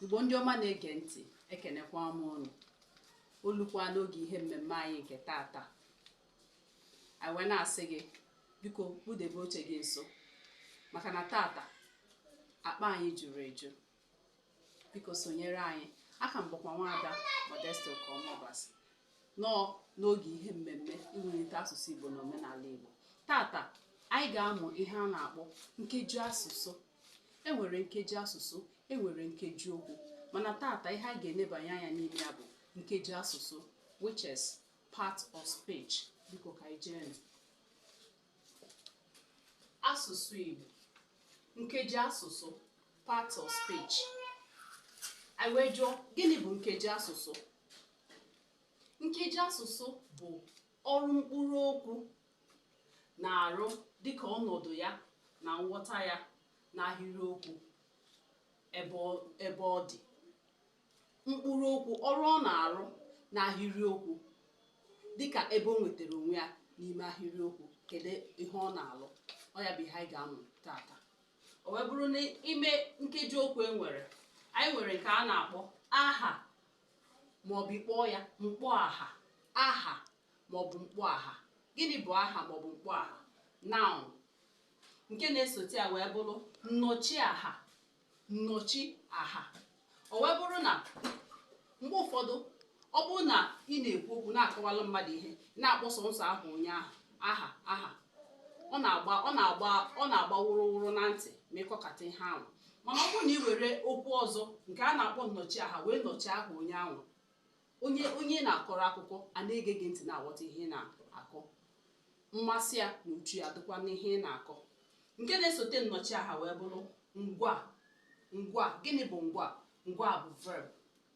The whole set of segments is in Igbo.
igbo ndị ọma na-ege ntị ekenekwa m ụnụ o lukwa n'oge ihe mmemme anyị nke tata anyị wee na-asị gị biko kpụdebe oche gị nso maka na tata akpa anyị juru eju biko sonyere anyị aka m bụkwa nwaada Modesty Okeọma Obasi nọ n'oge ihe mmemme iwulite asụsụ Igbo na omenala Igbo tata anyị ga-amụ ihe a na-akpọ nkeji asụsụ e nwere nkeji asụsụ e nwere nkeji okwu mana tata ihe anyị ga-enebanye anya n'ime ya bụ nkeji asụsụ which is part of speech biko ka anyị jee asụsụ Igbo nkeji asụsụ part of speech anyị wee jụọ gịnị bụ nkeji asụsụ nkeji asụsụ bụ ọrụ mkpụrụ okwu na-arụ dịka ọnọdụ ya na nghọta ya n'ahịrịokwu ebe ọ- ebe ọ dị mkpụrụ okwu ọrụ ọ na-arụ n'ahịrịokwu dịka ebe o nwetara onwe ya n'ime ahịrịokwu kedu ihe ọ na-alụ ọ ya bụ ihe anyị ga-amụ tata o wee bụrụ n'ime nkeji okwu e nwere anyị nwere nke a na-akpọ aha maọbụ ị kpọọ ya mkpọaha aha maọbụ mkpọaha gịnị bụ aha maọbụ mkpọaha noun nke na-esote ya wee bụrụ nnọchi aha nnọchi aha o wee bụrụ na mgbe ụfọdụ ọ bụrụ na ị na-ekwu okwu na-akọwalụ mmadụ ihe na-akpọ sọnsọ aha onye ahụ aha aha ọ na-agba wụrụwụrụ na ntị ma ị kọkata ihe ahụ mana ọ bụrụ na ị were okwu ọzọ nke a na-akpọ nnọchi aha wee nọchi aha onye ahụ onye ị na-akọrọ akụkọ a na-ege gị ntị na-aghọta ihe ị na-akọ mmasị ya na uche ya dịkwa n'ihe ị na-akọ nke na-esote nnọchi aha wee bụrụ ngwaa ngwaa gịnị bụ ngwaa ngwaa bụ verb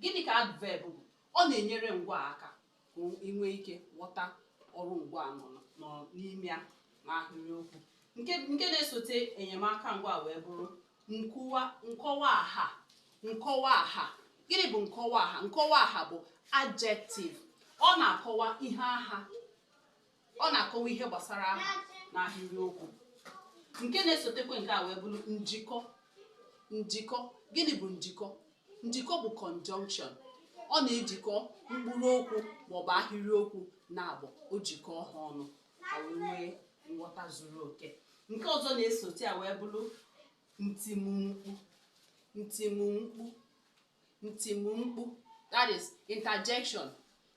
Gịnị ka adverb bụ? Ọ na-enyere ngwaa aka ka i nwee ike ghọta ọrụ ngwaa nọ n- nọ n'ime ya n'ahịrịokwu. Nke na-esote enyemaka ngwaa wee bụrụ nkọwa aha nkọwa aha. Gịnị bụ nkọwa aha? Nkọwa aha bụ adjective. Ọ na-akọwa ihe aha ọ na-akọwa ihe gbasara aha n'ahịrịokwu nke na-esotekwa nke a wee bụrụ njikọ njikọ gịnị bụ njikọ njikọ bụ conjunction ọ na-ejikọ mkpụrụ okwu maọbụ ahịrịokwu naabọ o jikọọ ha ọnụ ka e wee nwee nghọta zuru oke nke ọzọ na-esote ya wee bụrụ ntimkpu ntimkpu ntimumkpu that is interjection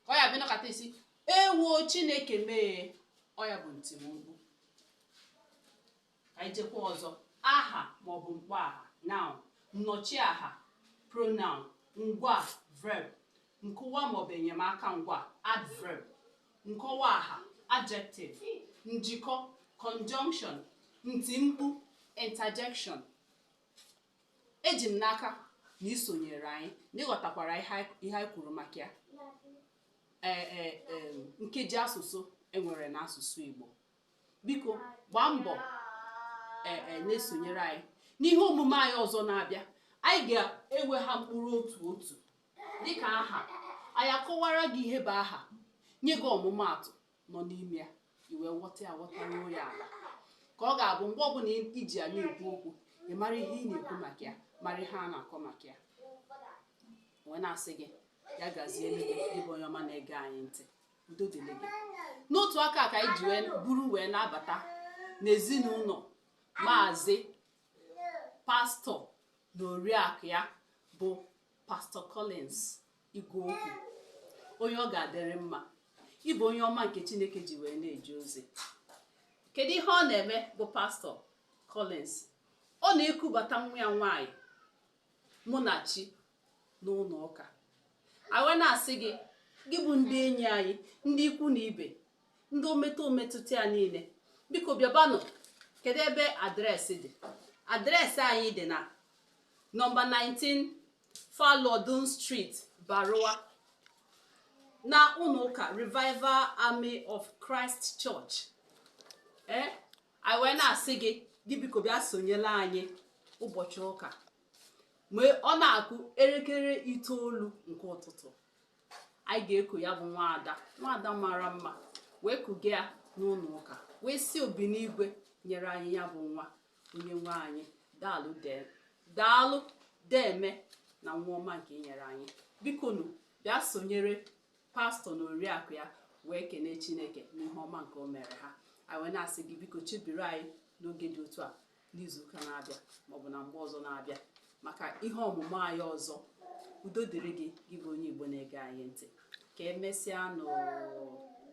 ọ ya bụ ị nọkata sị ewo chineke m ee ọ ya bụ ntimumkpu ka anyị jekwa ọzọ aha maọbụ mkpọ aha noun nnọchi aha pronoun ngwa verb nkwuwa maọbụ enyemaka ngwa adverb nkọwa aha adjective njikọ conjunction ntimkpu interjection Eji m n'aka na i sonyeere anyị na ị ghọtakwara ihe anyị ihe anyị kwuru maka ya ee ee em, nkeji asụsụ e nwere n'asụsụ Igbo biko gbaa mbọ ee ee na-esonyere anyị n'ihe omume anyị ọzọ na-abịa anyị ga-ewe ha mkpụrụ otu otu dịka aha anyị akọwara gị ihe bụ aha nye gị ọmụmaatụ nọ n'ime ya i wee ghọta ya ghọtaruo ya ala ka ọ ga-abụ mgbe ọbụla i ji ya na-ekwu okwu ị mara ihe ị na-ekwu maka ya mara ihe a na-akọ maka ya wee na-asị gị ya gazielu gị ị bụ onye ọma na-ege anyị ntị udo dịrị gị n'otu aka ka anyị ji wee buru wee na-abata n'ezinụlọ maazị pastọ na oriakụ ya bụ pastọ Collins igwe okwu onye ọ ga-adịrị mma ị bụ onye ọma nke chineke ji wee na-eje ozi kedu ihe ọ na-eme bụ pastọ Collins ọ na-ekubata nwa ya nwaanyị Munachi n'ụlọ ụka anyị wee na-asị gị gị bụ ndị enyi anyị ndị ikwu na ibe ndị o metụ o metụtara niile biko bịabanụ kedu ebe adreesị dị adreesị anyị dị na nọmba 19 Falodun Street, Baruwa na ụlọụka Revival Army of Christ Church ee eh, anyị wee na-asị gị gị biko bịa sonyele anyị ụbọchị ụka mgbe ọ na-akụ elekere itoolu nke ụtụtụ anyị ga-eku ya bụ nwaada nwaada mara mma wee kuga ya n'ụlọ ụka wee sị Obinigwe nyere anyị ya bụ nwa onye nwe anyị daalụ dee daalụ deeme na nwa ọma nke i nyere anyị bikonu bịa sonyere pastọ na oriakụ ya wee kenee chineke n'ihe ọma nke o mere ha anyị wee na-asị gị biko chebiri anyị n'oge dị otu a n'izuụka na-abịa maọbụ na mgbe ọzọ na-abịa maka ihe ọmụmụ anyị ọzọ udo dịrị gị gị bụ onye igbo na-ege anyị ntị ka emesịa nụ